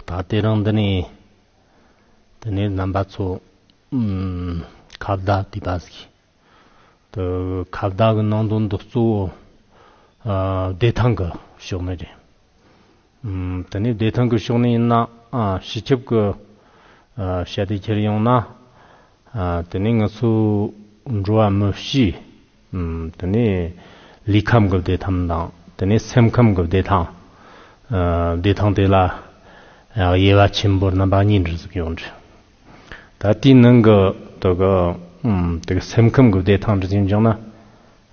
ད་དེ་རང་འདི་ནས་དེ་ནས་རྣམ་པ་ཚོ་ཁ་བརྡ་དེ་པ་ཟིག་དེ་ཁ་བརྡ་གི་ནང་དོན་དུ་གཙོ་བོ་བདེ་ཐང་གི་ཕྱོགས་ནས་རེད་དེ་ནས་བདེ་ཐང་གི་ཕྱོགས་ནས་ཡིན་ན་སྤྱི་ཁྱབ་ཀྱི་བྱ་དེ་འཁྱེར་ཡོང་ན། དེ་ནས་ང་ཚོའི་འགྲོ་བ་མི་གཤིས། དེ་ནས་ལུས་ཁམས་ཀྱི་བདེ་ཐང་དང་དེ་ནས་སེམས་ཁམས་ཀྱི་བདེ་ཐང། བདེ་ཐང་དེ་ལ་དབྱེ་བ་ཆེན་པོ་རྣམ་པ་གཉིས་འདྲི་ཟིག་ཡོང་འདྲི། ད་ལྟའི་ནང་གི་དེ་གི་སེམས་ཁམས་ཀྱི་བདེ་ཐང་འདྲི་ཟིག་འཇོག་ན།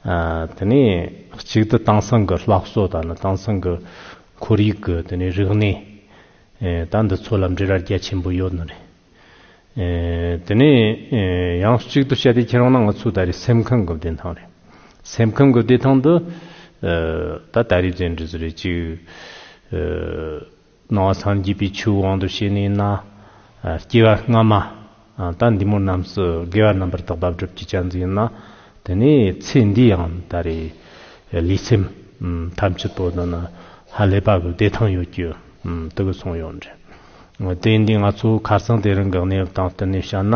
དེ་ནས་གཅིག་ཏུ་དེང་སང་གི་ལྷ་བཟོ་དང་ནི་དེང་སང་གི་ཁོར་ཡུག་གི་དེ་ནས་རིག་གནས་ད་འདི་ཚོ་ལ་འབྲེལ་བ་རྒྱ་ཆེན་པོ་ཡོད་ནི་རེད། དེ་ནས་ཡང་གཅིག་ཏུ་བཤད་དེ་ཁྱེད་རང་ནང་ང་ཚོའི་ད་རེས་སེམས་ཁམས་གི་བདེ་ཐང་རེད། སེམས་ཁམས་གི་བདེ་ཐང་འདི་ད་ད་རེས་བཙན་འབྲེལ་ཟེར་རེས་གཅིག་སྣང་བ་སངས་རྒྱས་པའི་ཆོས་དབང་དུ་བྱས་ནས་ན། སྐྱེ་བ་སྔ་མ། ད་འདི་མོ་རྣམས་སུ་དགེ་བ་རྣམ་པར་དག་པ་བསྒྲུབ་བྱའི་ཆ་འཛིན་ཡིན་ན། དེ་ནས་ཚེ་འདི་ཡང་ད་རེ། ལུས་སེམས་ཐམས་ཅད་པོ་དང་ན། ཧ་ལས་པ་གི་བདེ་ཐང་ཡོད་རྒྱུ། དུ་གི་གསུང་ཡོད་འདྲི། དེ་འདི་ང་ཚོ་ཁར་སང་དེ་རིང་གི་གནས་བབ་དང་བསྟུན་ནས་བཤད་ན།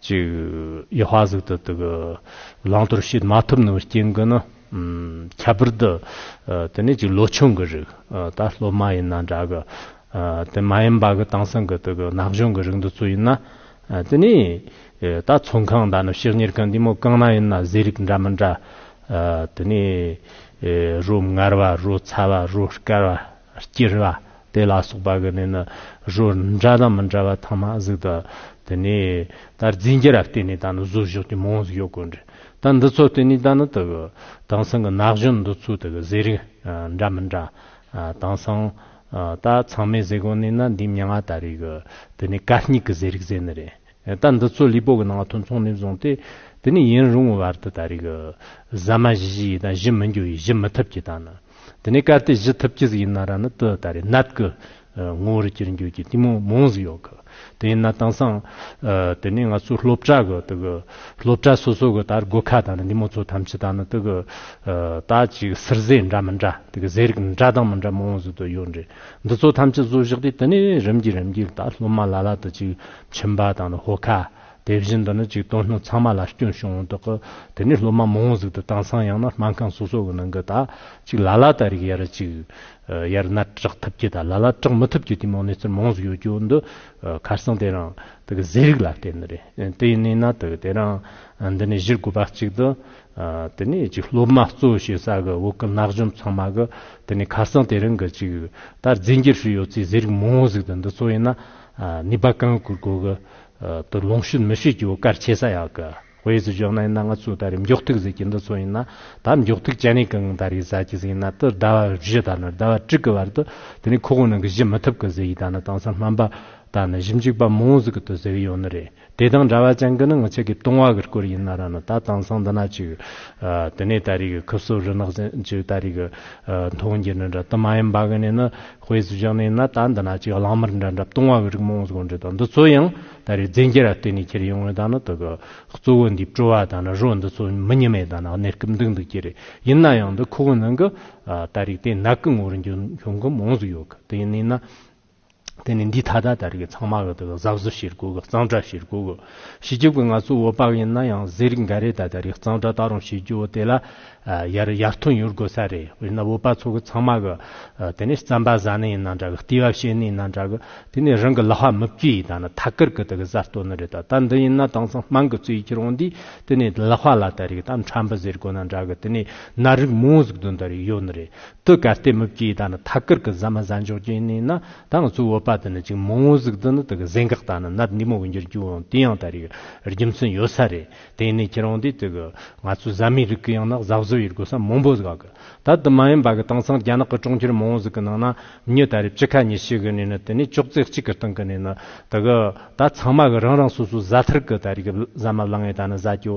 ཅིག། ཡེ་ཧོ་བྷ་གཟུགས་དེ་དག་གི་བླང་དོར་ཤེས་མ་ཐུབ་ནའང་རྐྱེན་གྱིས་ནི། ཁྱད་པར་དུ། དེ་ནས་ཅིག་ལོ་ཆུང་གི་རིགས་ད་ལོ་མ་ཡིན་ན་འདྲ་གི། དེ་མ་ཡིན་པ་གི་དེང་སང་གི་དེ་གི་ན་གཞོན་གི་རིགས་འདི་ཚོ་ཡིན་ན། དེ་ནས། ད་ཚོང་ཁང་ད་ནི་ཕྱག་གཉེར་ཁང་འདི་མོ་གང་ན་ཡིན་ན་ཟས་རིགས་འདྲ་མི་འདྲ། དེ་ནས། རོ་མངར་བ་རོ་ཚ་བ་རོ་དཀར་བ། སྐྱེར་བ་དེ་ལ་སོགས་པ་གི་ནི་ནི་རོ་འདྲ་དང་མི་འདྲ་བ་ཐང་མ་གཟུགས་དང། དེ་ནས་དར་རྫས་འགྱེད་ར་བསྟེན་ནས་ད་ནི་གཟུགས་གཞོག་གྱི་མོའང་གཟུགས་གཡོག་གོ་འདྲི་ད་འདི་ཚོ་བསྟེན་ནས་ད་ནི་དེ་གི་དེང་སང་གི་ན་གཞོན་འདི་ཚོའི་དེ་གི་བཟས་རིགས་འདྲ་མི་འདྲ། དེང་སང་ད་ཚང་མས་བཟས་གོ་ནི་ན་འདིའི་མྱ་ང་ད་རེས་གི་དེ་ནི་ཀ་སྙིགས་གི་བཟས་རིགས་བཟས་ནི་རེད། རྟ་འདི་ཚོ་ལི་པོ་གི་ནང་དུ་འཚོང་ནས་བཟུང་སྟེ་དེ་ནས་ཡུན་རིང་བོའི་བར་དུ་ད་རེས་ཀྱི་ཟ་མ་བཞི་བཞི་ཡི་དང་བཞི་མི་འགྱུར་བའི་བཞི་མི་ཐུབ་ཀྱི་དང་ནི་དེ་ནས་གལ་ཏེ་བཞི་ཐུབ་ཀྱི་ཟིག་ཡིན་ན་ར་ནི་དུ་ད་རེས་ནད་ཀྱི་ངོ་བོར་གྱུར་འགྱུར་གྱི་གཏི་མུག་མང་ཟིག་ཡོད་གི་དེ་ཡིན་ན་དེང་སང་དེ་ནས་ང་ཚོའི་སློབ་གྲྭ་གི་དུ་གི་སློབ་གྲྭ་སོ་སོ་གི་ད་རེས་སྒོ་ཁ་དང་ནི་འདི་མོ་ཚོ་ཐམས་ཅད་ད་ནི་དུ་གི་ད་ཅིག་ཟུར་ཟས་འདྲ་མི་འདྲ་དུ་གི་ཟས་རིགས་འདྲ་དང་མི་འདྲ་མང་ཟིག་དུ་ཡོད་འདྲེ་འདི་ཚོ་ཐམས་ཅད་བཟོ་བཞག་དེ་དེ་ནས་རིམ་གྱིས་རིམ་གྱིས་ད་སློབ་མ་ལ་ལ་དུ་ཅིག་ཁྱིམ་པ་དང་ནི་ཧོ་ཁ། དེ་བཞིན་དུ་ནི་ཅིག་སྟོང་སྣོད་ཚང་མ་ལ་སྐྱོན་བྱུང་བོ་དོག་གི། དེ་ནས་སློབ་མ་མང་བོ་ཟུག་ཏུ་བཏང་སང་ཡང་ན་སྨན་ཁང་སོ་སོ་གི་ནང་གི་དག། ཅིག་ལ་ལ་དག་རིགས་ཡར་ཅིག། ཡར་སྣ་དྲག་ཐུབ་ཀྱི་དག་ལ་ལ་དྲག་མི་ཐུབ་ཀྱི་དུས་མང་ནས་ཚུར་མང་ཟུག་ཡོད་ཀྱི་བོ་འདི། ཁར་སང་དེ་རང། དག་གི་ཟས་རིགས་ལ་བརྟེན་ནི་རེད། དེ་ཡིན་ནས་ན་དག་དེ་རང། འདི་ནས་གཞིར་དགོས་པ་ཅིག་ཏུ། དེ་ནས་ཅིག་སློབ་མ་གཙོ་བོ་བྱེད་ས་གི་བོ་གི་ནག་འཇོམས་ཚང་མ་གི། དེ་ནས་ཁར་སང་དེ་རང་གི་ཅིག། ད་རྫས་འགྱུར་ཧྲིལ་ཡོད་ཚེ་ཟས་རིགས་མང་བོ་ཟུག་ཏུ་འདི་ཚོ་ཡིན་ན། ནི་པ་ཀང་གུ་གོ་གི་དུ་ལོངས་ཤུད་མི་ཤུད་ཀྱི་བུ་གར་ཆེ་ས་ཡག་གི་ཧོ་ཡེ་ཙི་ཇོ་ནའི་ན་ང་ཙུ་ད་རེ་མགྱོགས་ཐུག་ཟེར་གྱི་འདི་ཚོ་ཡིན་ན་ད་མགྱོགས་ཐུག་ཅན་ནི་ཀང་ད་རེ་ཟ་གྱི་ཟིག་ཡིན་ན་དུ་ཟླ་བ་བཞི་ད་ནི་ཟླ་བ་དྲུག་གི་བར་དུ་དེ་ནི་ཁོ་གོ་ནང་གི་བཞི་མི་ཐུབ་གི་ཟེར་གྱི་ད་ནི་དང་ས་སྨན་པ་ད་ནི་བཞི་འཇུག་པ་མང་བོ་ཟིག་གི་དུ་ཟེར་གི་ཡོད་ནི་རེད། དེ་དང་འདྲ་བ་ཅང་ཀི་ནི་ངོ་ཆེ་གི་ཏུང་བ་གི་སྐོར་ཡིན་ན་ར་ནི་ད་དེང་སང་འདི་ན་ཅིག་དེ་ནས་ད་རིག་གི་ཁུ་བསོ་རི་ནག་ཅན་ཅིག་ད་རིག་གི་མཐོང་རྒྱུ་ནི་འདྲ་དུ་མ་ཡིན་པ་གི་ནས་ནི་དཔེ་སུ་བཞག་ནས་ཡིན་ན་ད་འདི་ན་ཅིག་གླང་དམར་འདྲ་འདྲ་ཏུང་བ་གི་རིག་མོང་གི་འདྲི་དང་འདི་ཚོ་ཡང་ད་རིག་རྫས་འགྱུར་ར་བརྟེན་ནས་ཁྱེར་ཡོང་ངོ་ད་ནི་དུ་གི་གཙོ་བོ་འདིའི་སྤྲོ་བ་ད་ནི་རོ་འདི་ཚོ་མི་ཉི་མའི་ད་ནི་གནས་སྐབས་འདུག་འདུག་གི་རེད་ཡིན་ན་ཡང་འདི་ཁོ་གི་ནང་གི་ད་རིག་དེ་ནག་གི་ངོ་རུ་འགྱུར་འབྱུང་གི་མོང་གི་ཡོད་གི་དེ་ཡིན་ན་ཡིན་ན། དེ་ནི་འདི་ད་ལྟ་ལྟར་གྱི་ཚང་མ་གི་དེ་གི་གཟའ་བཟོ་བྱེད་དགོས་གི་གཙང་སྦྲ་བྱེད་དགོས་གི། བྱེད་རྒྱུ་གི་ང་ཚོ་འོད་དཔག་ཡིན་ན་ཡང་ཟས་རིགས་འགའ་རེ་ད་ལྟར་གྱི་གཙང་སྦྲ་ད་རུང་བྱེད་རྒྱུ་དེ་ལ་ཡར་ཡར་ཐོན་ཡོད་དགོས་ས་རེད་དཔེར་ན་འོད་དཔག་ཚོ་གི་ཚང་མ་གི་དེ་ནི་རྩམ་པ་བཟའ་ནི་ཡིན་ན་འདྲ་གི་ལྟེ་བ་བཤད་ནི་ཡིན་ན་འདྲ་གི་དེ་ནི་རང་གི་ལ་བྷ་མི་བཀྱི་ད་ནི་ཐ་ཀར་གི་དེ་གི་གཟའ་གཏོ་ནི་རེད་ད་ད་འདི་ཡིན་ན་དེང་སང་དམངས་གི་རྩོད་ཀྱི་རང་འདི་དེ་ནི་ལ་བྷ་ལ་ད་རིག་ད་ཁྲམ་བུ་ཟེར་དགོས་ན་འདྲ་གི་དེ་ནི་ན་རིགས་མོ་ཟིག་དུ་འདི་རིགས་ཡོད་ནི་རེད། དུ་གར་སྟེགས་མུ་གེའི་དང་ནི་ཐ་སྐར་གྱི་གཟའ་མ་གཟའ་འཇོག་ཅན་ནི་ན་དང་གཙུག་འོད་པ་དུ་ནི་ཅིག་མོ་ངོ་གཟུགས་དུ་ནི་དུ་གི་གཟེངས་འགག་དང་ནི་ནད་འདི་མོ་གི་འགྱུར་རྒྱུ་འོང་དུས་ཡང་དར་ཡོད་རྒྱུ་མཚན་ཡོད་ས་རེད་དེ་ནས་ཁྱེད་རང་དེ་དུ་གི་ང་ཚོ་གཟའ་མའི་རིགས་གི་ཡང་ན་གཟའ་བཟོ་ཡི་རྒོལ་ས་མང་པོ་གཟག་གི་ད་དུ་མ་ཡིན་པ་གི་དེང་སང་རྒྱ་ནག་གི་གྲོང་ཁྱེར་མང་བོ་ཟིག་གི་ནང་ན་ཉི་ད་རེབ་གཅིག་ཁ་ཉི་ཤི་གི་ནས་ནི་དེ་ནས་ཅོག་ཙེ་གཅིག་གི་སྟེང་གི་ནས་ནི་དུ་གི་ད་ཚང་མ་གི་རང་རང་སོ་སོ་གཟའ་ཐར་གི་ད་རིག་གཟའ་མ་བླ་ངའི་ད་ནི་གཟའ་སྐྱོ།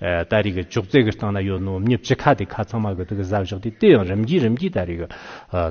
ད་རེས་ཀྱི་ཅོག་ཙེ་གི་སྟེང་ན་ཡོད་ནོ་སྙིབ་ཅི་ཁ་དེ་ཁ་ཚང་མ་གི་དེ་གི་གཟའ་བཞག་དེ་དེ་ཡང་རིམ་གྱིས་རིམ་གྱིས་ད་རེས་ཀྱི་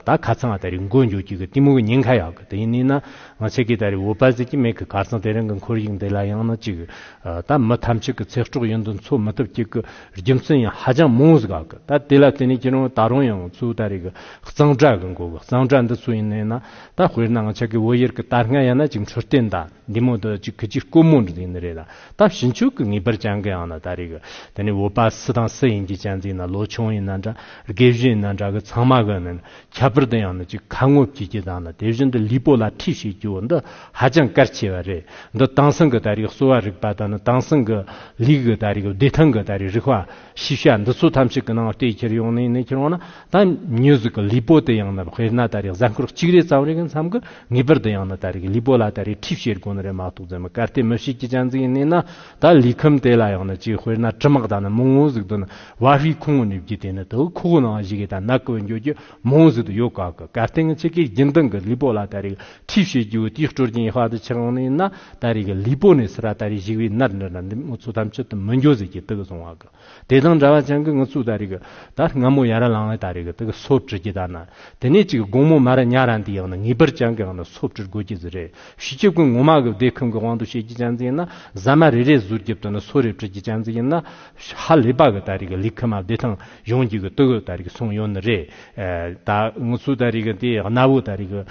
ད་ཁ་ཚང་མ་ད་རེས་འགོ་འགྱོ་གྱི་གི་གཏི་མུག་གི་ཉེན་ཁ་ཡག་གི་དེ་ཡིན་ནིས་ན་ང་ཚེ་གི་ད་རེས་འོ་བལ་ཟེར་གྱི་མེད་གི་གར་ཚང་དེ་རིང་གི་འཁོར་ཡིག་འདི་ལ་ཡང་ན་ཅིག་ད་མི་ཐམས་ཅད་གི་ཚེ་སྤྲོག་ཡིན་དུ་འཚོ་མི་ཐུབ་གྱི་གི་རྒྱུ་མཚན་ཡང་ཧ་ཅང་མང་ཟིག་གི་ད་དེ་ལ་དེ་ནས་ཀྱི་རང་ད་རང་ཡང་ཚུ་ད་རེས་ཀྱི་གཙང་སྦྲ་གི་འགོ་གི་གཙང་སྦྲ་འདི་སུ་ཡིན་ནིས་ན་ད་དཔེར་ན་ང་ཚེ་གི་འོ་ཡེར་གི་ད་སྔ་ཡང་ན་ཅིག་འཕྲུལ་རྟེན་ད། འདི་མོ་དོ་གཅིག་གི་གཅིག་བསྐོར་མོ་འདི་ནི་རེད་ལ་ད་བྱིན་ཆོག་གི་ངེས་པར་བྱང་གི་ཡང་ན་ད་རེད་གི་དེ་ནི་འོ་པཱ་སི་དང་སི་ཡིན་གྱི་གཅན་ཙིག་ན་ལོ་ཆུང་ཡིན་ན་འདྲ་རྒས་བཞི་ཡིན་ན་འདྲ་གི་ཚང་མ་གི་ནི་ཁྱད་པར་དུ་ཡང་ན་གཅིག་ཁ་ངོ་བྱེད་ཀྱི་དང་ན་དེ་བཞིན་དུ་ལུས་པོ་ལ་འཁྲིད་བྱེད་རྒྱུ་བོ་འདི་ཧ་ཅང་གལ་ཆེ་བ་རེད་འདི་དྭངས་སང་གི་ད་རེས་གསོ་བ་རིག་པ་དང་ནི་དྭངས་སང་གི་ལུས་གི་ད་རེས་བདེ་ཐང་གི་ད་རེས་རིག་བ། ཤེས་བྱ་འདི་ཚོ་ཐམས་ཅད་ཀྱི་ནང་ལྟེ་ཁྱེར་ཡོང་ནས་ནས་ཁྱེར་འོང་ན་ད་མྱུ་གཟུགས་ཀྱི་ལུས་པོ་དེ་ཡང་ན་དཔེར་ན་ད་རེས་གཟའ་འཁོར་གཅིག་རེ་ཙམ་རེ་གི་མཚམས་ཀྱི་ངེས་པར་དུ་ཡང་ན་ད་རེས་ཀྱི་ལུས་པོ་ལ་ད་རེས་ཁྲིད་བྱེད་དགོས་ནི་རེད་མ་གཏོགས་རྫུན་མི་གར་ཏེ་མི་ཞིག་གི་སྤྱན་གཟིགས་ནས་ན་ད་ལུས་ཁམས་དེ་ལ་ཡང་ན་གཅིག་དཔེར་ན་དྲི་མག་ད་ནི་མོའོ་གཟུགས་དུ་ན་བ་བྷི་ཁུང་ངོ་ནུས་བརྒྱུད་དེ་ནི་དུག་ཁུག་ནང་བཞི་གའི་ད་ནག་གི་བར་འགྱུར་གྱི་མོའོ་གཟུགས་དུ་ཡོད་ག་གི་གར་སྟེང་གི་ཆེ་གེ་རྒྱུན་ལྡང་གི་ལུས་པོ་ལ་ད་རེས་ཀྱི་ཁྲིད་བྱེད་རྒྱུ་དེའི་སྤྲོ་སྐྱིན་ཧ་ཏུ་ཆེ་གང་ནས་ན་ད་རེས་ཀྱི་ལི་པོ་ནས་སི་ར་ད་རེས་ཞིག་བས་ནར་འདྲ་ན་འདི་མོ་ཚོ་ཐམས་ཅད་དུ་མི་འགྱོ་ཟེར་གྱི་དུག་སོང་བ་གི་དེ་དང་འདྲ་བ་ཅང་གི་ངུ་ཚུགས་ད་རེས་ཀྱི་ད་སྔ་མོ་ཡ་ར་ལང་ལས་ད་རེས་ཀྱི་དུག་གི་སོབ་དྲི་གྱི་ད་ན་དེ་ནས་ཅིག་དགོང་མོ་མ་ར་ཉ་ར་འདི་ཡང་ན་ངེས་པར་ཅང་གི་ཡང་ན་སོབ་དྲི་དགོས་ཀྱི་ཟི་རེད་བྱེད་ཀྱི་ཀུན་ངོ་མ་གི་བདེ་ཁུང་གི་དབང་དུ་བྱེད་ཀྱི་ཅང་ཙི་ཡིན་ན་ཟ་མ་རེ་རེ་ཟུར་རྒྱབ་དུ་ན་སོ་རེ་བྲི་གྱི་ཅང་ཙི་ཡིན་ན་ཧ་ལས་པ་གི་ད་རེས་ཀྱི་ལི་ཁི་མ་བདེ་ཐང། གཞུང་རྒྱུད་ཀྱི་སྟོད་གོས་ལྟར་གྱི་གསུང་ཡོད་ནི་རེད། ད་ངུ་ཚུལ་ལྟར་རིགས་དེ་གནའ་བོའི་ལྟར་རིགས།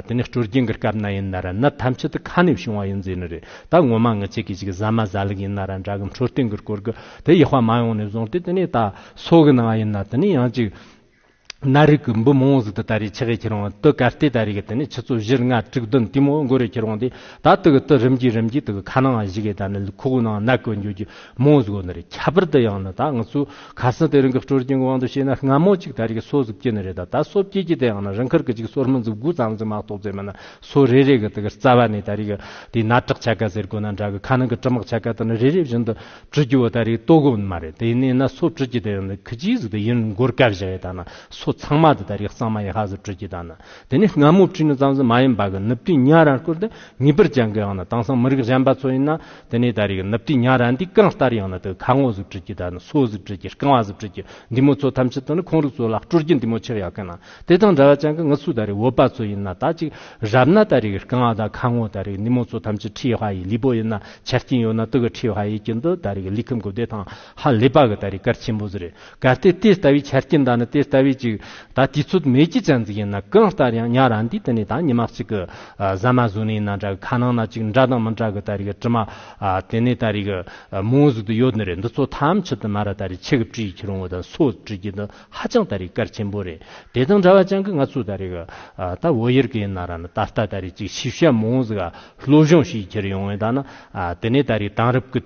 དེ་ནི་སྤྲུལ་རྒྱན་གྱི་སྐབས་ན་ཡིན་ནར་ནི་ཐམས་ཅད་དུ་ཁ་ནས་བྱུང་བ་ཡིན་རྫས་ནི་རེད། ད་ངོ་མ་ངི་ཆེ་གི་ཞིག་ཟ་མ་བཟའ་ལུགས་ཡིན་ནར་འདྲ་གི་འཕྲོད་བསྟེན་གྱི་སྐོར་གྱི་དེ་ཡེ་ཧོ་མ་ཡོང་ནས་བཟུང་སྟེ་དེ་ནས་ད་སོ་གི་ནང་ཡིན་ནར་དེ་ནི་ཡང་ཅིག། གནའ་རིགས་ཀྱི་འབུ་མོང་ཟིག་དེ་ལྟར་རིགས་ཆི་གས་ཁྱེར་འོང་བ་དུད་གར་སྟེ་ལྟར་རིགས་དེ་ནི་ཆུ་ཚོད་བཞི་ལྔ་དྲུག་བདུན་དུས་མོ་མགོ་རུ་ཁྱེར་འོང་སྟེ་ད་དུད་གི་དུད་རིམ་གྱིས་རིམ་གྱིས་དུད་གི་ཁ་ནང་བཞུགས་གས་ད་ནི་ལུས་ཁུག་ནང་ནག་གོས་འགྱུར་རྒྱུ། མོའུ་གཟུགས་ནི་རེད་ཁྱད་པར་དུ་ཡང་ན་ད་ང་ཚོས་གར་སོང་དེ་རིང་གི་སྤྲོ་སྐྱིད་གི་དབང་དུ་བྱས་ན་སྔ་མོ་གཅིག་ད་རེས་ཀྱི་སོ་གཟུགས་སྐྱིད་ནི་རེད་ད་ད་སོ་སྐྱིད་སྐྱིད་དེ་ཡང་ན་རིང་ཁར་གི་གཅིག་སོར་མོ་མཛུབ་དགུ་ཙམ་ཙམ་མ་གཏོགས་བཙལ་མིན་ན་སོ་རེ་རེ་གི་དེ་གར་རྩ་བ་ནས་ད་རེས་ཀྱི་དེ་ནར་དྲག་ཆ་ག་ཟེར་དགོས་ན་འདྲ་གི་ཁ་ནང་གི་དྲི་མག་ཆ་ག་དེ་ནི་རེ་རེ་བཞིན་དུ་བྲུད་རྒྱུ་བ་ད་རེས་ལྟོ་གོ་ནི་མ་རེད་དེ་ནས་ན་སོ་བྲུད་སྐྱིད་དེ་ཡང་ན་ཁི་སྐྱིད་གཟུགས་དེ་ཡིན་རུང་མགོར་དཀར་བཞག་ཡོད་ད་ན་སོ་ཚང་མ་དེ་ད་རེས་གཙང་མ་ཡིན་ཧ་གཟུགས་བྲུད་སྐྱིད་ད་ན་དེ་ནས་སྔ་མོ་བྲུད་ནི་ཙམ་ཙམ་མ་ཡིན་པ་གི་ནུབ་དུས་ཉྭ་ར་སྐོར་དེ་ངེས་པར་བྱང་གི་ཡང་ན་དེང་སང་མི་རིགས་གཞན་པ་ཚོ་ཡིན་ན། དེ་ནས་ད་རེས་ནུབ་ཏི་ཉྭ་ར་འདི་གང་ལྟར་ཡང་ན་དེ་ཁ་ངོ་གཟུགས་བྲིས་ཀྱི་ད་ནི་སོ་གཟུགས་བྲིས་ཀྱི་རྐང་བ་གཟུགས་བྲིས་ཀྱི་འདི་མོ་ཚོ་ཐམས་ཅད་དུ་ནི་ཁོང་རིགས་ཚོ་ལ་སྤྲོ་སྐྱིད་འདི་མོ་ཆགས་ཡག་གི་ན་དེ་དང་འདྲ་བ་ཅང་གི་ངུ་ཚོ་ད་རེས་བོད་པ་ཚོ་ཡིན་ན་ད་ཅིག་རབ་ན་ད་རེས་རྐང་བ་དང་ཁ་ངོ་ད་རེས་འདི་མོ་ཚོ་ཐམས་ཅད་ཁྲི་བྷ་ཡི་ལི་པོ་ཡིན་ན་ཆ་རྐྱེན་ཡོད་ན་དུ་གི་ཁྲི་བྷ་ཡི་ཀྱི་འདི་ད་རེས་ལི་ཁམ་གི་བདེ་ཐང་ཧ་ལི་པ་གི་ད་རེས་སྐར་ཆེན་པོ་ཟི་རེད་གལ་ཏེ་དེ་ལྟ་བུའི་ཆ་རྐྱེན་དག་ནི་དེ་ལྟ་བུའི་ཅིག་ད་དུས་ཚོད་མེད་ཀྱི་ཅན་ཟིག་ཡིན་ན་གང་ལྟར་ཡང་ཉག་ར་འདིའི་སྟེང་ནས་ད་ཉི་མ་གཅིག་གི་ཟ་མ་བཟོ་ནི་ཡིན་ན་འདྲ་གི་ཁ་ནང་ན་ཅིག་འདྲ་དང་མི་འདྲ་གི་ད་རེ་གི་དྲི་མ་དེ་ནི་ད་རེ་གི་མོའུ་གཟུགས་དུ་ཡོད་ནི་རེད་འདི་ཚོ་ཐམས་ཅད་དུ་མ་ར་ད་རེ་ཆེ་གི་བཀྲིས་ཡིག་ཁྱི་རོང་བོ་དང་སོ་བཀྲིས་རྒྱུ་འདི་ཧ་ཅང་ད་རེ་གལ་ཆེན་པོ་རེད་དེ་དང་འདྲ་བ་ཅན་གི་ང་ཚོ་ད་རེ་གི་ད་བོད་ཡུལ་གི་ཡིན་ན་ར་ནི་ད་ལྟ་ད་རེ་ཅིག་ཤེས་བྱ་མོའུ་གཟུགས་གློ་གཞུང་ཞིག་ཡིག་ཁྱིར་ཡོང་བའི་ད་ནི་དེ་ནི་ད་རེ་དང་རབས་ཀི།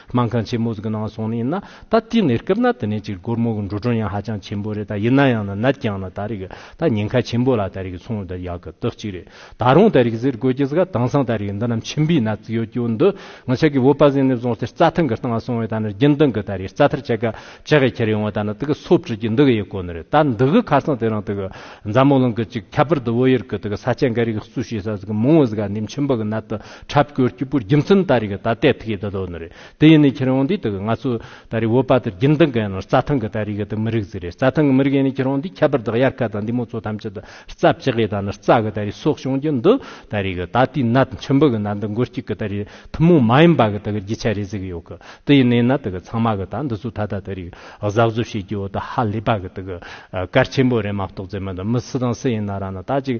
དམངས་ཁང་ཆེན་མོ་ཟིག་གི་ནང་སོང་ནས་ཡིན་ན་ད་ལྟའི་ནས་སྐབས་ན་དེ་ནས་ཅིག་སྒོར་མོ་གི་འགྲོ་གྲོན་ཡང་ཧ་ཅང་ཆེན་པོ་རེད་ད་ཡིན་ན་ཡང་ན་ནད་ཀྱང་ན་ད་རེ་གི་ད་ཉེན་ཁ་ཆེན་པོ་ལ་ད་རེ་གི་ཚོང་ལ་ད་ཡག་གི་རྟགས་གཅིག་རེད་ད་རུང་ད་རེ་གི་ཟེར་དགོས་ཀྱི་ཟིག་ད་དེང་སང་ད་རེ་གི་འདི་ནམ་ཆེན་པོའི་ནད་ཟིག་ཡོད་ཀྱི་འོ་འདི་ང་ཆགས་གི་འོ་པ་ཟིག་ནས་བཟུང་སྟེ་རྩ་ཐང་གི་སྟེང་ང་སོང་བས་ད་ནི་རྒྱུན་ལྡང་གི་ད་རེ་རྩ་ཐར་ཆག་གི་ཆག་གི་ཁྱེར་ཡོང་བ་ད་ནི་དེ་གི་སོ་བྲི་གྱི་འདི་གི་ཡི་གོ་ནི་རེད་ད་འདི་གི་ཁ་སང་དེ་རང་དེ་གི་འཛམ་གླིང་གི་ཅིག་ཁྱད་པར་དུ་བོད་ཡུལ་གི་དེ་གི་ས་ཆ་འགའ་རེ་གི་གཙོས་བྱེད་ས་ཟིག་གི་མང་བོ་ཟིག་ག་ནིམ་ཆེན་པོ་གི་ནད་དུ། འཁྲབ་སྐྱོར་སྐྱིད་པོ་རྒྱུ་མཚན་ད་རེས་ཀྱི་ད་ལྟའི་ཐིག་ཡིག་འདི་དོ་ནི་རེད་དེ་ཡིན་ནི་ཁྱེད་རང་འདིའི་དག་གི་ང་ཚོ་ད་རེས་བོད་པ་དེར་རྒྱུན་ལྡན་གི་ཡིན་ན་རྩ་ཐང་གི་ད་རེས་ཀྱི་དེ་མི་རིགས་ཟིག་རེད་རྩ་ཐང་གི་མི་རིགས་ཡིན་ནི་ཁྱེད་རང་འདིས་ཁྱད་པར་དག་དབྱར་ཁ་དང་འདི་མོ་ཚོ་ཐམས་ཅད་དུ་རྩ་བཅག་གི་ད་ནི་རྩ་གི་ད་རེས་སྲོག་ཤིང་རྒྱུ་འདི་ད་རེས་ཀྱི་ད་ལྟའི་ནད་མཆིན་བུ་གི་ནད་འདི་མགོ་གཅིག་གི་ད་རེས་ཐུན་མོང་མ་ཡིན་པ་གི་དག་གི་རྒྱུ་ཆ་རེད་ཟེར་གྱི་ཡོད་གི་དེ་ཡིན་ནི་ནད་དག་གི་ཚང་མ་གི་ད་འདི་ཚོ་ད་ལྟ་ད་རེས་ཀྱི་གཟབ་གཟབ་བྱེད་ཀྱི་ཡོད་དེ་ཧ་ལས་པ་གི་དག་གི་གར་ཆེན་པོ་རེད་མ་གཏོགས་ཙེ་མི་འདི་མི་སུ་དང་སུ་ཡིན་ན་ར་ནི་ད་ཅིག།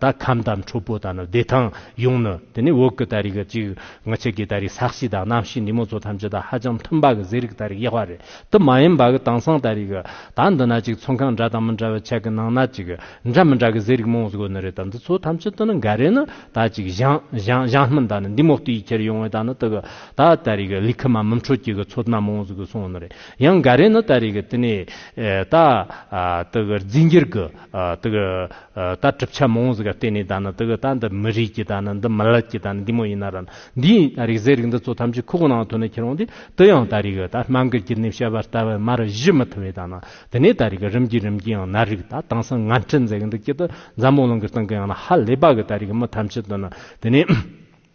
ད་ཁམས་དང་ཁྲོ་བོ་དང་ནི་བདེ་ཐང་ཡོང་ནི་དེ་ནས་འོག་གི་ད་རིགས་གཅིག་ནི་ཕྱི་གི་ད་རིགས་ས་གཤིས་དང་གནམ་གཤིས་ནུས་མོ་ཚོ་ཐམས་ཅད་དང་ཧ་ཅང་མཐུན་པ་གི་ཟས་རིགས་ད་རིགས་གཡག་བ་རེད་དེ་མ་ཡིན་པ་གི་དེང་སང་ད་རིགས་ད་འདི་ན་གཅིག་ཚོང་ཁང་འདྲ་དང་མི་འདྲ་བའི་ཆ་གི་ནང་ན་གཅིག་འདྲ་མི་འདྲ་གི་ཟས་རིགས་མང་བཟོ་གི་ནི་རེད་ད་འདི་ཚོ་ཐམས་ཅད་དུ་ནི་འགའ་རེ་ནི་ད་གཅིག་ཞང་སྣུམ་དང་ནི་འདི་མོག་ཏུ་ཡི་ཁྱེར་ཡོང་བས་ད་ནི་དེ་གི་ད་ད་རིགས་ལི་ཁི་མ་མུམ་ཁྲོ་སྐྱིད་གི་ཚོ་སྣ་མང་བཟོ་གི་སོང་གི་ནི་རེད་ཡང་འགའ་རེ་ནི་ད་རིགས་དེ་ནས་ད་ད་གི་རྫིས་འགྱུར་གི། དག་ད་གྲུབ་ཆ་མང་བོ་ཟིག་ག་བལྟས་ནས་ད་ནི་དག་ད་འདི་མི་རིགས་ཀྱི་ད་ནི་འདི་མི་ལབ་ཀྱི་ད་ནི་འདི་མོ་ཡིན་ན་ར་འདི་ཡིན་ད་རིག་ཟེར་རིག་འདི་ཚོ་ཐམས་ཅད་ཁུག་ནང་དུ་ནི་ཁྱེར་འོང་དུས་དུ་ཡང་ད་རིག་ད་སྨྲ་འགུལ་གྱི་ནི་བཤད་པ་ལྟ་བུ་མར་བཞི་མི་ཐུབ་བས་ད་ནི་དེ་ནས་ད་རིག་རིམ་གྱིས་རིམ་གྱིས་ཡང་ནར་རིག་ད་དེང་སང་ང་འཁྲིད་མཛད་གི་འདུག་ཀྱི་དུ་འཛམ་བུ་གླིང་གི་སྟེང་གི་ཡང་ན་ཧ་ལས་པ་གི་ད་རིག་མི་ཐམས་ཅད་དུ་ནི་དེ་ནས།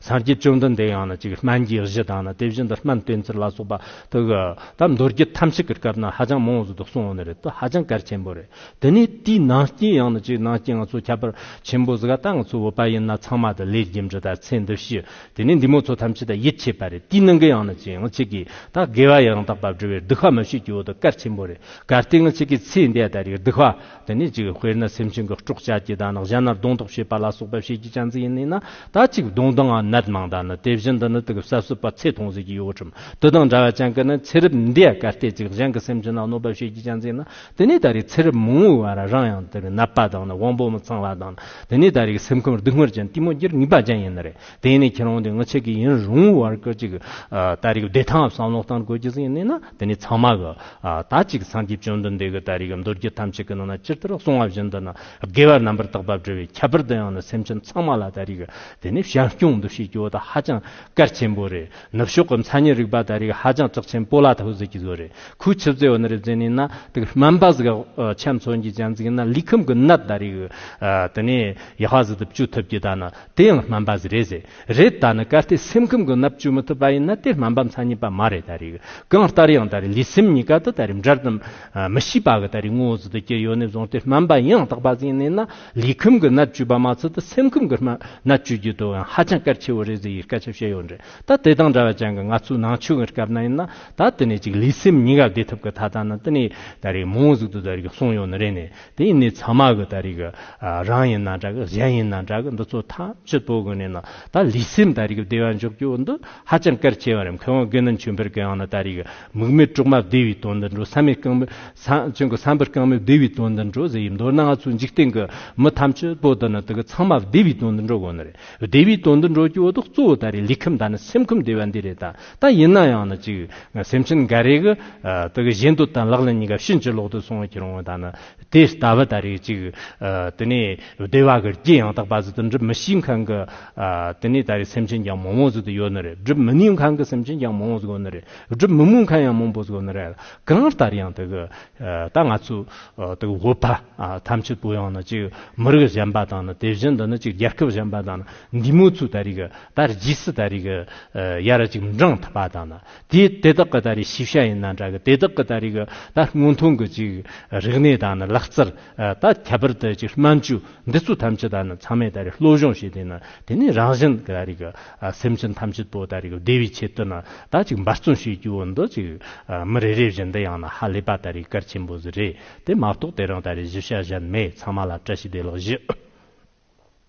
སངས་རྒྱས་བཅོམ་ལྡན་འདས་ཡང་ན་ཅིག་སྨན་གྱི་གཞི་དང་ན་དེ་བཞིན་དུ་སྨན་བསྟེན་ཚུལ་ལ་སོགས་པ་དག་གི། ད་མདོར་རྒྱུད་ཐམས་ཅད་ཀྱི་སྐབས་ན་ཧ་ཅང་མང་བོ་ཟིན་ཏོ་གསུང་བ་ནི་རེད་དོ་ཧ་ཅང་གལ་ཆེན་པོ་རེད་དེ་ནི་དེའི་ནང་རྐྱེན་ཡང་ན་ཅིག་ནང་རྐྱེན་ང་ཚོ་ཁྱད་པར་ཆེན་པོ་ཟི་ག་ཏང་གི་གཙོ་བོ་པ་ཡིན་ན་ཚང་མ་དང་ལས་རྒྱུན་འབྲི་དང་ཚེ་འདི་ཕྱི་དེ་ནས་འདི་མོ་ཚོ་ཐམས་ཅད་དང་ཡིད་ཆེས་པ་རེད་དེའི་ནང་གི་ཡང་ན་ཅིག་ང་ཅིག་གིས་ད་དགེ་བ་ཡང་དག་པ་བསྒྲུབ་བའི་སྡུག་ཧ་མི་ཤེས་ཀྱི་འོ་དོ་གལ་ཆེན་པོ་རེད་གལ་ཏེ་ང་ཅིག་གིས་ཚེ་འདས་ད་རིག་སྡུག་ཧ་དེ་ནས་གཅིག་དཔེར་ན་སེམས་ཅན་གྱི་སྐྲོག་བྱ་སྐྱི་དང་ནག་བྱ་ན་གདོང་ཐོག་ཞེས་པ་ལ་སོགས་པ་བྱེད་ཀྱི་ཅང་ཙེ་ཡིན་ནས་ན་ད་གཅིག་གདོང་དང་ནད་མང་དག་ནི་དེ་བཞིན་དུ་ནི་དུག་གསབ་སྲིད་པ་ཚེ་ཐུང་ཟིལ་གྱིས་གཡོགས་ཁྲིམས་དུ་དང་འདྲ་བ་ཅང་ཀི་ནི་ཚེ་རབས་འདི་གར་སྟེ་གཅིག་གཞན་གྱི་སེམས་ཅན་ལ་གནོད་པ་བྱེད་ཀྱི་ཅང་ཙེ་ཡིན་ན་དེ་ནས་ད་རེས་ཚེ་རབས་མང་བོའི་བར་རང་ཡང་དུག་ནད་པ་དང་ནི་དབང་པོ་མི་ཚང་བ་དང་ནི་དེ་ནས་ད་རེས་སེམས་ཁམས་སྡུག་བསྔལ་ཅན་ལྟད་མོ་བགྱིར་ནུས་པ་ཅན་ཡིན་ནི་རེད་དེ་ནས་ཁྱེད་རང་དེ་སྔ་ཆད་ཀྱི་ཡིན་རུང་བར་གྱི་གཅིག་ད་རེས་བདེ་ཐང་བསམ་བློ་བཏང་དགོས་ཀྱི་ཟིན་ནས་ན། འདི་ནི་ཚང་མ་གི། ད་ཅིག་སངས་རྒྱས་བཅོམ་ལྡན་འདས་ཀྱི་ད་རེས་ཀྱི་མདོ་རྒྱུད་ཐམས་ཅད་ཀྱི་ནང་ན་སྤྱིར་ལྟར་གསུང་བ་བཞིན་དུ་ནི་དགེ་བའི་རྣམ་པར་དག་པ་བསྒྲུབ་པའི་ཁྱད་པར་དུ་ཡང་ནི་སེམས་ཅན་ཚང་མ་ལ་ད་རེས་ཀྱི་དེ་ནི་ཞལ་སྐྱོང་འདུ་ཤེས་ཀྱི་འོ་ད་ཧ་ཅང་གལ་ཆེན་པོ་རེད་ནུབ་ཕྱོགས་ཀྱི་མཚན་ཉིད་རིག་པ་ད་རེས་ཀྱི་ཧ་ཅང་གྲགས་ཆེན་པོ་ལ་ད་ཧུ་ཟེར་གྱི་ཟོ་རེད་ཁོའི་ཆུ་རྩེ་འོ་ན་རེ་རྩེ་ནས་ན་དུག་སྨན་པ་ཟིག་ཆེམས་མཚོན་གྱི་སྤྱན་གཟིགས་ན་ལུས་ཁམས་ཀྱི་ནད་ད་རེས་ཀྱི་དེ་ནི་ཡ་ཧ་ཟིག་ཏུ་བཅོས་ཐུབ་ཀྱི་ད་ནི། དེ་ཡང་སྨན་པ་ཟེར་རེད་ཟེར་རེད་ད་ནི་གལ་ཏེ་སེམས་ཁམས་ཀྱི་ནད་བཅོས་མི་ཐུབ་པ་ཡིན་ན་དེ་སྨན་པ་མཚན་ཉིད་པ་མ་རེད་ད་རེད་གང་ལྟར་ཡང་ད་རེད་ལུས་སེམས་གཉིས་ཀ་དུ་ད་རེད་འབྲལ་དུ་མི་བྱེད་པ་གི་ད་རེད་ངོ་བོ་ཟིལ་དུ་གྱེས་ཡོད་ནས་བཟུང་སྟེ་སྨན་པ་ཡང་དག་པ་ཟིན་ནས་ན་ལུས་ཁམས་ཀྱི་ནད་བཅོས་པ་མ་ཚད་དུ་སེམས་ཁམས་ཀྱི་ནད་བཅོས་རྒྱུ་དུ་ཡང་ཧ་ཅང་གལ་ཆེ་བོ་རེད་ཟེར་བའི་སྐད་ཆ་བཤད་ཡོད་རེད་ད་དེ་དང་འདྲ་བ་ཅན་གྱི་ང་ཚོའི་ནང་ཆོས་ཀྱི་སྐབས་ན་ཡིན་ན་ད་དེ་ནས་ཅིག་ལུས་སེམས་གཉིས་ཀ་བདེ་ཐུབ་ཀྱི་ཐ་ད་ནི་དེ་ནས་ད་རེད་མང་བོ་ཟིག་དུ་ད་རེད་གསུངས་ཡོད་ནི་རེད་ནས། དེ་ཡིན་ནའི་ཚང་མ་གི་ད་རེས་རང་ཡིན་ན་འདྲ་གི་གཞན་ཡིན་ན་འདྲ་གི་འདི་ཚོ་ཐམས་ཅད་དོ་གི་ནས་ན་ད་ལུས་སེམས་ད་རེས་བདེ་བ་འཇོག་རྒྱུ་འདི་ཧ་ཅང་གལ་ཆེ་བ་རེད་མཁས་དབང་དགེ་འདུན་ཆོས་འཕེལ་གི་ཡང་ན་ད་རེས་མིག་མེད་གྲོག་མ་བདེ་བའི་དོན་འདི་འགྲོ་བསམ་མེད་རྐང་མེད་བསམ་གྱི་བསམ་པ་རྐང་མེད་བདེ་བའི་དོན་འདི་འགྲོ་ཟེར་གྱི་མདོར་ན་ང་ཚོ་འཇིག་རྟེན་གི་མི་ཐམས་ཅད་དོ་འདི་ནི་དེ་གི་ཚང་མ་བདེ་བའི་དོན་འདི་འགྲོ་དགོས་ནི་རེད་བདེ་བའི་དོན་འདི་འགྲོ་རྒྱུ་འོ་དོག་གཙོ་བོ་ད་རེས་ལུས་ཁམས་དང་ནི་སེམས་ཁམས་བདེ་བ་འདི་རེད་ད། ད་ཡིན་ན་ཡང་ན་ཅིག་སེམས་ཅན་འགའ་རེ་གི་དག་གཞན་དུ་དང་ལག་ལེན་གཉིས་ཀ་ཕྱིན་ཅི་ལོག་ཏུ་སོང་བ་ཁྱེར་འོང་དང་ན་དེ་ལྟ་བུ་ད་རེས་ཅིག་དེ་ནས་བདེ་བ་གི་རྐྱེན་ཡང་དག་པ་ཟིན་ཏུ་འགྲུབ་མི་ཤེས་མཁན་གི་དེ་ནས་ད་རེས་སེམས་ཅན་ཀྱང་མང་བོ་ཟིན་ཏུ་ཡོད་ནི་རེད་སྒྲུབ་མི་ནུས་མཁན་གི་སེམས་ཅན་ཀྱང་མང་བོ་ཟིན་ནི་རེད་སྒྲུབ་མི་མོས་མཁན་ཡང་མང་བོ་ཟིན་ནི་རེད་གང་ལྟར་ཡང་དག་ད་ང་ཚོའི་དག་བོད་པ་ཐམས་ཅད་པོ་ཡང་ན་ཅིག་མི་རིགས་གཞན་པ་དང་ན་དེ་བཞིན་དུ་ན་ཅིག་རྒྱལ་ཁབ་གཞན་པ་དང་ན་འདི་མོ་ཚོས་ད་རེས་གི་ད་རྗེས་སུ་ད་རེས་ཀྱི་ཡར་གཅིག་འབྲང་ཐུབ་པ་དང་ན་དེ་དེ་དག་གི་ད་རེས་ཤེས་བྱ་ཡིན་ན་འདྲ་གི་དེ་དག་གི་ད་རེས་ཀྱི་ད་སྔོན་ཐོན་གྱི་ཅིག་རིག་གནས་དང་ན་ལག་རྩལ་ད་ཁྱད་པར་དུ་ཅིག་སྨན་བཅོས་འདི་ཚོ་ཐམས་ཅད་ད་ནི་ཚང་མས་ད་རེས་བློ་སྦྱོང་བྱས་ཏེ་ན་དེ་ནས་རང་གཞན་གྱི་ད་རེས་ཀྱི་སེམས་ཅན་ཐམས་ཅད་པོ་ད་རེས་ཀྱི་བདེ་བའི་ཆེད་དུ་ན་ད་ཅིག་འབད་བརྩོན་བྱེད་རྒྱུ་འོ་འདི་ཅིག་མི་རེ་རེ་བཞིན་འདི་ཡང་ན་ཧ་ལས་པ་ད་རེས་གལ་ཆེན་པོ་ཟིག་རེད་དེ་མ་གཏོགས་དེ་རིང་ད་རེས་གཞི་བྱ་གཞན་མེད་ཚང་མ་ལ་བཀྲ་ཤིས་བདེ་ལགས་བཞི།